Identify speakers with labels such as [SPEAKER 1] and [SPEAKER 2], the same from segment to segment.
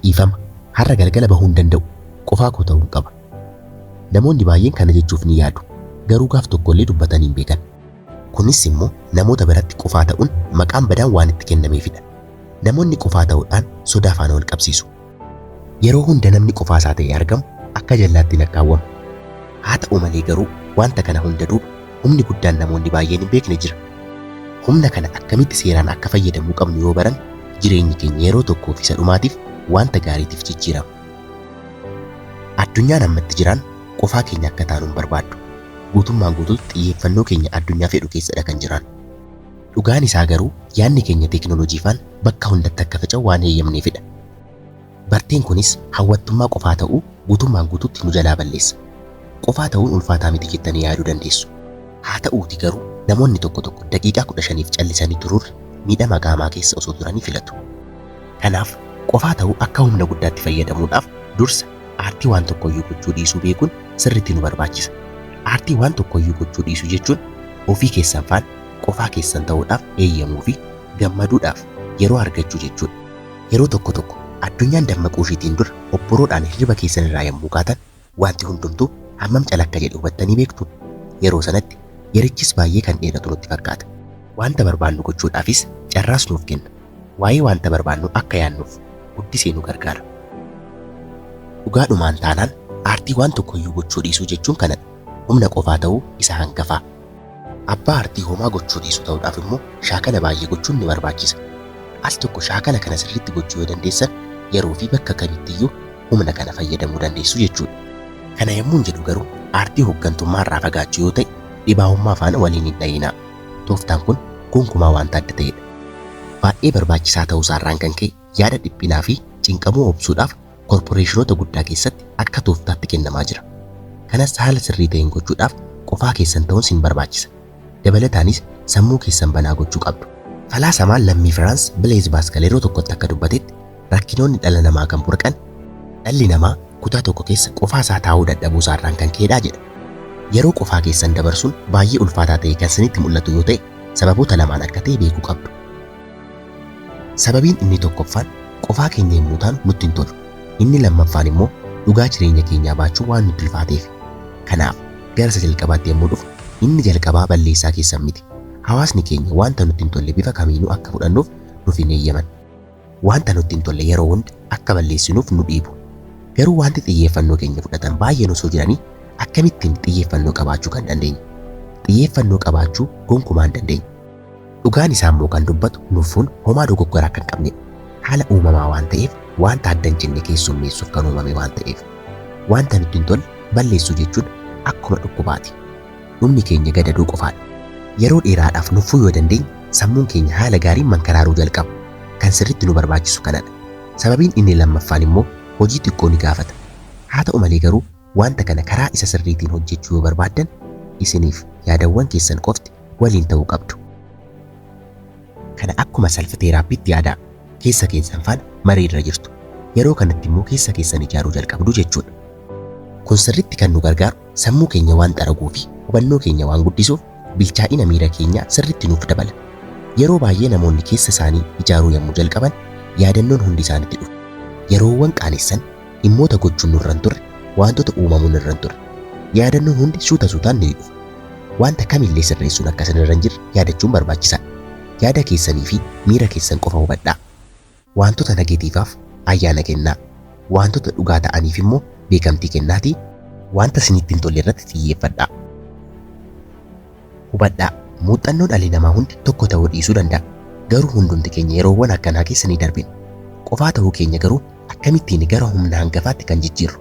[SPEAKER 1] Dhiifama, har'a galgala bahuu hin danda'u, qofaa koo ta'uun qaba. Namoonni baay'een kana jechuuf ni yaadu, garuu gaaf tokko illee dubbatanii hin beekan. Kunis immoo namoota biratti qofaa ta'uun maqaan badaan waan itti kennameefidha. Namoonni qofaa ta'uudhaan sodaa faana wal qabsiisu. Yeroo hunda namni qofaasaa ta'ee argamu akka jallaatti lakkaawwama. Haata'u malee garuu wanta kana hunda duuba humni guddaan namoonni baay'een hin beekne jira. Humna kana akkamitti seeraan akka fayyadamuu qabnu yoo baranne jireenyi keenya yeroo tokkoo fi isa dhumaatiif wanta gaariitiif jijjiirama. Addunyaan amma itti jiraannu qofaa keenya akka taanu hin barbaaddu. Guutummaan guutuutti xiyyeeffannoo keenya addunyaa fedhu keessadha kan jiraannu. Dhugaan isaa garuu yaadni keenya teeknooloojii faan bakka hundatti akka faca'u waan heeyyamneefidha. Barteen kunis hawwattummaa qofaa ta'uu guutummaan guutuutti nu jalaa balleessa. Qofaa ta'uun ulfaataa miti jettanii yaaduu dandeessu. Haa ta'uutii garuu namoonni tokko tokko daqiiqaa 15f callisanii turuurra miidhama qaamaa keessa osoo turanii filatu. Kanaaf qofaa ta'uu akka humna guddaatti fayyadamuudhaaf dursa aartii waan tokkoyyuu gochuu dhiisuu beekuun sirriitti nu barbaachisa. Aartii waan tokkoyyuu gochuu dhiisuu jechuun ofii keessan faan Qofaa keessan ta'uudhaaf eeyyamuu fi gammaduudhaaf yeroo argachuu jechuu dha. Yeroo tokko tokko, addunyaan dammaquu ishiitiin dura obboroodhaan hirriba keessan irraa yommuu kaatan, wanti hundumtuu hammam cala akka jedhe hubattanii beektuu? Yeroo sanatti, yerichis baay'ee kan dheeratu nutti fakkaata. Wanta barbaannu gochuudhaafis carraas nuuf kenna. Waa'ee wanta barbaannuu akka yaannuuf guddisee nu gargaara. Dhugaadhumaan taanaan, aartii waan tokko iyyuu gochuu dhiisuu jechuun kana dha, humna qofaa ta'uu isa hangafaa. Abbaa artii homaa gochuu dhiisuu ta'uudhaaf immoo shaakala baay'ee gochuun ni barbaachisa. Al tokko shaakala kana sirriitti gochuu yoo dandeessan yeroo fi bakka kamitti iyyuu humna kana fayyadamuu dandeessu jechuudha. Kana yommuun jedhu garuu aartii hoggantummaa irraa fagaachuu yoo ta'e dhibaa'ummaa faana wal hin hidha'inaa. Tooftaan kun gonkumaa wanta adda ta'edha. Baay'ee barbaachisaa ta'uu isaa irraan kan ka'e Yaada dhiphinaa fi cinqamuu obsuudhaaf korporeeshinoota guddaa keessatti akka tooftaatti kennamaa jira. Kanas haala sirrii ta'een gochuudhaaf qofaa keessan ta'uun sin barbaachisa. Dabalataanis sammuu keessan banaa gochuu qabdu. Falaasamaan lammii Firaans Bileez Baaskal yeroo tokkotti akka dubbatetti rakkinoonni dhala namaa kan burqan dhalli namaa kutaa tokko keessa qofaa isaa taa'uu dadhabuu isaa irraan kan ka'edha jedha. Yeroo qofaa keessan dabarsuun baay'ee ulfaataa ta'ee kan sinitti mul'atu yoo ta'e sababoota lamaan akka ta'e beekuu qabdu. Sababiin inni tokkoffaan qofaa keenya yommuu taanu nutti hin tolu. Inni lammaffaan immoo dhugaa jireenya keenyaa baachuu waan nutti ulfaateefi. Kanaaf gara isa jalqabaatti yommuu dhufnu inni jalqabaa balleessaa keessan miti. Hawaasni keenya wanta nutti hin tolle bifa kamiinuu akka fudhannuuf nuuf hin eeyyaman. Wanta nutti hin tolle yeroo hunda akka balleessinuuf nu dhiibu. Garuu wanti xiyyeeffannoo keenya fudhatan baay'een osoo jiranii akkamittiin xiyyeeffannoo qabaachuu kan dandeenyu? Xiyyeeffannoo qabaachuu gonkumaa hin dandeenyu. Dhugaan isaa immoo kan dubbatu luffuun homaa dogoggora akka hin qabnedha. Haala uumamaa waan ta'eef waanta adda hin cinne keessummeessuuf kan uumame waan ta'eef. Waanta nutti hin tolle balleessuu jechuun akkuma dhukkubaati. Dhumni keenya gadadoo qofaadha. Yeroo dheeraadhaaf nuffuu yoo dandeenye sammuun keenya haala gaariin mankaraaruu jalqaba. Kan sirriitti nu barbaachisu kanadha. Sababiin inni lammaffaan immoo hojii xiqqoo ni gaafata. Haa ta'u malee garuu Wanta kana karaa isa sirriitiin hojjechuu yoo barbaaddan, isiniif yaadawwan keessan qofti waliin ta'uu qabdu. Kana akkuma self therapytti yaadaa. Keessa keessan faana marii irra jirtu. Yeroo kanatti immoo keessa keessan ijaaruu jalqabdu jechuudha. Kun sirriitti kan nu gargaaru sammuu keenya waan xaraguu fi hubannoo keenya waan guddisuuf bilchaa'ina miira keenyaa sirriitti nuuf dabala. Yeroo baay'ee namoonni keessa isaanii ijaaruu yommuu jalqaban yaadannoon hundi isaanitti dhufa. Yeroowwan qaanessan Dhimmoota gochuun nurra hin turre, waantota uumamuu nurra hin turre. Yaadannoon hundi suuta suutaan ni dhufa. Waanta kamillee sirreessuun akka isinirra hin jirre yaadachuun barbaachisaadha. Yaada keessanii fi miira keessan qofa hubadhaa. Waantota negetiivaaf ayyaana kennaa. Waantota dhugaa ta'aniif immoo beekamtii kennaatii. Waanta isinitti hin tolle irratti xiyyeeffadhaa. Hubadhaa, muuxxannoo dhalli namaa hundi tokko ta'uu dhiisuu danda'a, garuu hundumti keenya yeroowwan akkanaa keessa ni darbina. Qofaa ta'uu keenya garuu akkamittiin gara humna hangafaatti kan jijjiirru?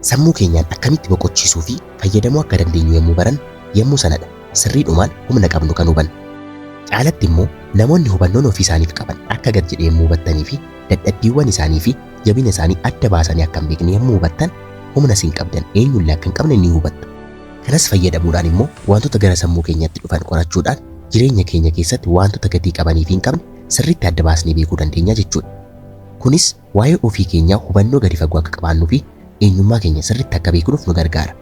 [SPEAKER 1] Sammuu keenyaan akkamitti boqochiisuu fi fayyadamuu akka dandeenyu yommuu barannu, yommuu sana dha sirriidhumaan humna qabnu kan hubannu. Caalatti immoo, namoonni hubannoon ofii isaaniif qaban akka gad jedhe yommuu hubattanii fi dadhabbiiwwan isaanii fi jabina isaanii adda baasanii akka hin beekne yommuu hubattan, humna isin qabdan eenyu illee akka hin qabne ni hubattu. Kanas fayyadamuudhaan immoo waantota gara sammuu keenyatti dhufan qorachuudhaan jireenya keenya keessatti waantota gatii qabanii fi hin qabne sirriitti adda baasnee beekuu dandeenya jechuudha. Kunis waa'ee ofii keenyaa hubannoo gadi fagoo akka qabaannuu fi eenyummaa keenya sirriitti akka beeknuuf nu gargaara.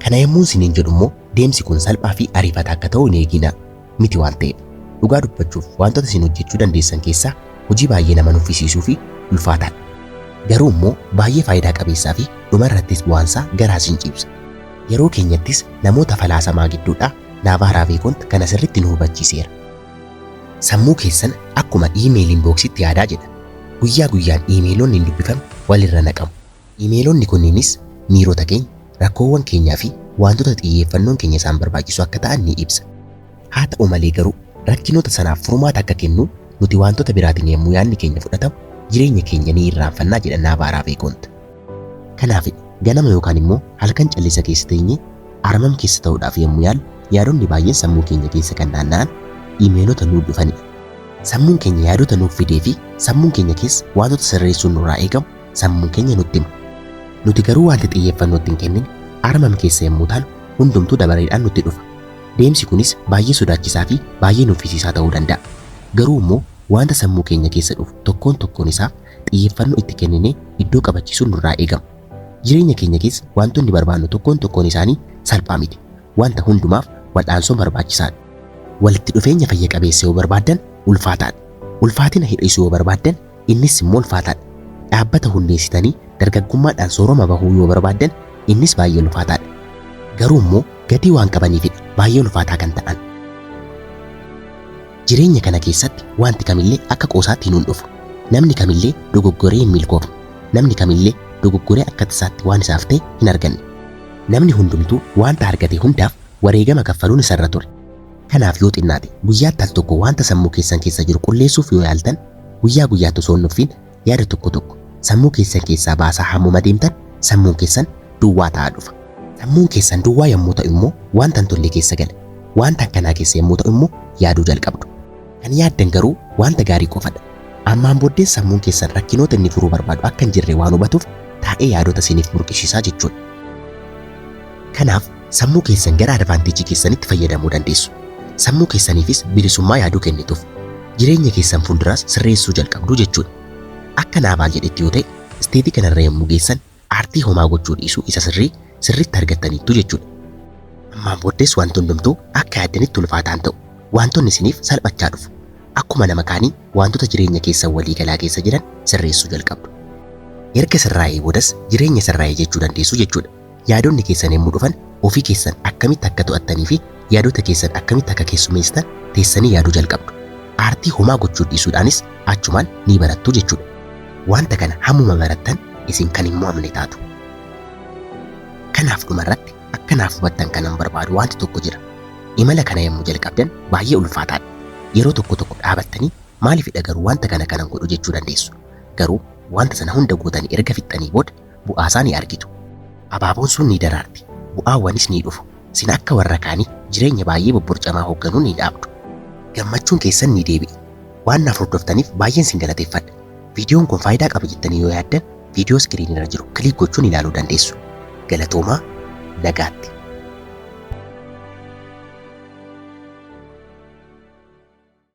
[SPEAKER 1] Kana yommuun isiniin jedhu immoo deemsi kun salphaa fi ariifataa akka ta'u hin eeginaa. miti waan ta'eef. Dhugaa dubbachuuf wantoota isin hojjechuu dandeessan keessaa hojii baay'ee nama nuffisiisuu fi ulfaataadha. Garuu immoo baay'ee faayidaa qabeessaa fi dhuma irrattis bu'aansaa garaa isin ciibsa. Yeroo keenyattis namoota falaasamaa gidduudhaa Naavaa Raaveekont kana sirriitti nu hubachiiseera. Sammuu keessan akkuma iimeeliin booksitti yaadaa jedha. Guyyaa guyyaan iimeeloonni hin dubbifamne walirra naqamu. Iimeelonni kunniinis miirota keenya, rakkoowwan keenyaa fi waantota xiyyeeffannoon keenya isaan barbaachisu akka ta'an ni ibsa. Haa ta'u malee garuu, rakkinoota sanaaf furmaata akka kennu nuti waantota biraatiin yommuu yaadni keenya fudhatamu jireenya keenya ni irraanfanna jedha Naavaa Raaveekoont. Kanaaf, ganama yookaan immoo halkan callisa keessa teenyee armam keessa ta'uudhaaf yommuu yaallu yaadonni baay'een sammuu keenya keessa kan naanna'an iimeelota nuuf dhufanidha. Sammuun keenya yaadota nuuf fidee fi sammuun keenya keessa waantota sirreessuun nurraa eegamu sammuun keenya nutti hima. Nuti garuu wanti xiyyeeffannoo itti hin kennine armam keessa yommuu taanu hundumtuu dabareedhaan nutti dhufa. Deemsi kunis baay'ee sodaachisaa fi baay'ee nuffisiisaa ta'uu danda'a. Garuu immoo wanta sammuu keenya keessa dhufu tokkoon tokkoon isaa xiyyeeffannoo itti kenninee iddoo qabachiisuun nurraa eegama. Jireenya keenya keessa wantoonni barbaannu tokkoon tokkoon isaanii salphaa miti. Wanta hundumaaf wal'aansoon barbaachisaadha. Walitti dhufeenya fayya qabeessa yoo barbaaddan ulfaataadha. Ulfaatina hir'isuu yoo barbaaddan Innis immoo ulfaataadha. Dhaabbata hundeessitanii dargaggummaadhaan sooroma bahuu yoo barbaaddan innis baay'ee ulfaataadha. Garuu immoo gatii waan qabaniifidha baay'ee ulfaataa kan ta'an. Jireenya kana keessatti wanti kamillee akka qoosaatti hin hundhufu. Namni kamillee dogoggoree hin milkoofne. Namni kamillee dogoggoree akka tasaatti waan isaaf ta'e hin arganne. Namni hundumtuu wanta argate hundaaf wareegama kaffaluun isarra ture. Kanaaf yoo xinnaate guyyaatti al tokko wanta sammuu keessan keessa jiru qulleessuuf yoo yaaltan, guyyaa guyyaatti osoo hin nuffiin yaada tokko tokko sammuu keessan keessaa baasaa hammuma deemtan sammuun keessan duwwaa ta'aa dhufa. Sammuun keessan duwwaa yommuu ta'u immoo wanta hin tolle keessa gala. Wanta akkanaa keessa yommuu ta'u immoo yaaduu jalqabdu. Kan yaaddan garuu wanta gaarii qofadha. Ammaan booddees sammuun keessan rakkinoota inni furuu barbaadu akka hin jirre waan hubatuuf taa'ee yaadota isiniif burqisiisaa jechuudha. Kanaaf sammuu keessan gara advantage keessanitti fayyadamuu dandeessu. Sammuu keessaniifis bilisummaa yaaduu kennituuf. Jireenya keessan fuulduraas sirreessuu jalqabdu jechuudha. Akka Naavaal jedhetti yoo ta'e, state kanarra yommuu geessan aartii homaa gochuu dhiisuu isa sirrii sirriitti argattaniittu jechuudha. Ammaan booddees wanti hundumtuu akka yaaddanitti ulfaataa hin ta'u. Waantonni isiniif salphachaa dhufu. Akkuma nama kaanii waantota jireenya keessan walii galaa keessa jiran sirreessuu jalqabdu. Erga sirraa'ee boodas jireenya sirraa'e jechuu dandeessu jechuudha. Yaadonni keessan yommuu dhufan ofii keessan akkamitti akka to'attanii fi yaadota keessan akkamitti akka keessumeessitan teessanii yaaduu jalqabdu. Aartii homaa gochuu dhiisuudhaanis achumaan ni barattu jechuudha. Wanta kana hammuma barattan isin kan hin mo'amne taatu. Kanaaf dhumarratti akka naaf hubattan kanan barbaadu wanti tokko jira. Imala kana yommuu jalqabdan baay'ee ulfaataadha. Yeroo tokko tokko dhaabattanii maaliifidha garuu wanta kana kanan godhu jechuu dandeessu. Garuu wanta sana hunda gootanii erga fixxanii booda bu'aasaa ni argitu. Abaaboon sun ni daraarti, bu'aawwanis ni dhufu. Sin akka warra kaanii jireenya baay'ee bobborcamaa hoogganuu ni dhaabdu. Gammachuun keessan ni deebi'a. Waan naaf hordoftaniif baay'een sin galateeffadha. Viidiyoon kun faayidaa qaba jettanii yoo yaaddan viidiyoo iskiriinii irra jiru kiliik gochuun ilaaluu dandeessu. Galatoomaa, nagaatti.